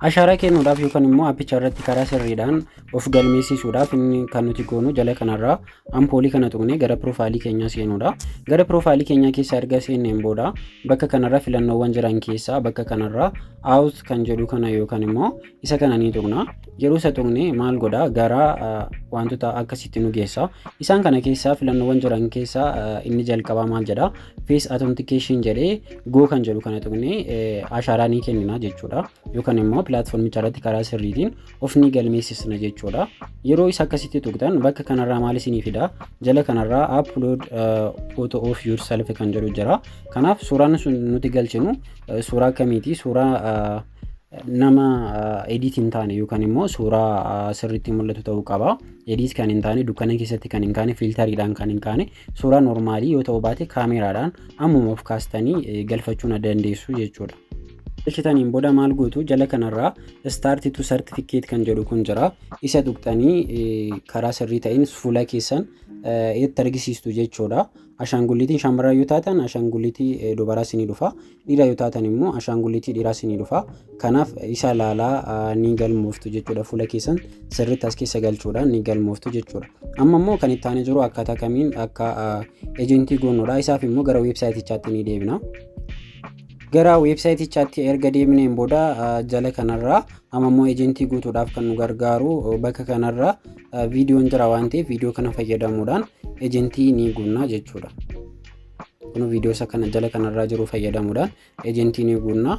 Ashaaraa kennuudhaaf yookaan immoo appicha irratti karaa sirriidhaan of galmeessisuudhaaf inni kan nuti goonu jala kanarraa ampoolii kana tuqnee gara piroofaayilii keenyaa seenuudha. Gara piroofaayilii keenyaa keessa erga seenneen booda bakka kanarra filannoowwan jiran keessaa bakka kanarraa out kan jedhu kana yookaan immoo isa kana ni tuqna yeroo isa tuqne maal godha gara wantoota akkasitti nu geessa isaan kana keessaa filannoowwan jiran keessaa inni jalqabaa maal jedha face authentication jedhee go kan jedhu kana tuqne ashaaraa ni kennina jechuudha yookaan immoo pilaatfoormicha irratti karaa sirriitiin of ni galmeessisna jechuudha yeroo isa akkasitti tuqxan bakka kanarraa maal isinii fida jala kanarraa upload photo of yourself kan jedhu jira kanaaf suuraan sun nuti galchinu suuraa akkamiiti suuraa nama edit hin taane yookaan immoo suuraa sirriitti mul'atu ta'uu qaba. Edit kan hin taane dukkana keessatti kan hin kaane fiiltariidhaan kan hin kaane suuraa normaalii yoo ta'u baate kaameeraadhaan ammuma of kaastanii galfachuu na dandeessu jechuudha. Galchitaniin booda maal gootu jala kanarraa start to certificate kan jedhu kun jira. Isa tuqxanii karaa sirrii ta'een fuula keessan itti argisiistu jechuudha. Ashaangulliitiin shamarran yoo taatan ashaangulliitii dubaraa isinii dhufa. Dhiira yoo taatan immoo ashaangulitii dhiiraa isinii dhufa. Kanaaf isa ilaalaa ni galmooftu jechuudha. Fuula keessan sirriitti as keessa galchuudhaan ni galmooftu jechuudha. Amma immoo kan itti aanee jiru akkaataa kamiin akka ejentii goonudha. Isaaf immoo gara weebsaayitichaatti ni deebina. Gara weebsaayitichaatti erga deebineen booda jala kanarraa amma immoo ejentii guutuudhaaf kan nu gargaaru bakka kanarraa viidiyoon jira waan ta'eef viidiyoo kana fayyadamuudhaan ejentii ni guunna jechuudha. Kun viidiyoo isa kana jala kanarraa jiru fayyadamuudhaan ejentii ni guunna.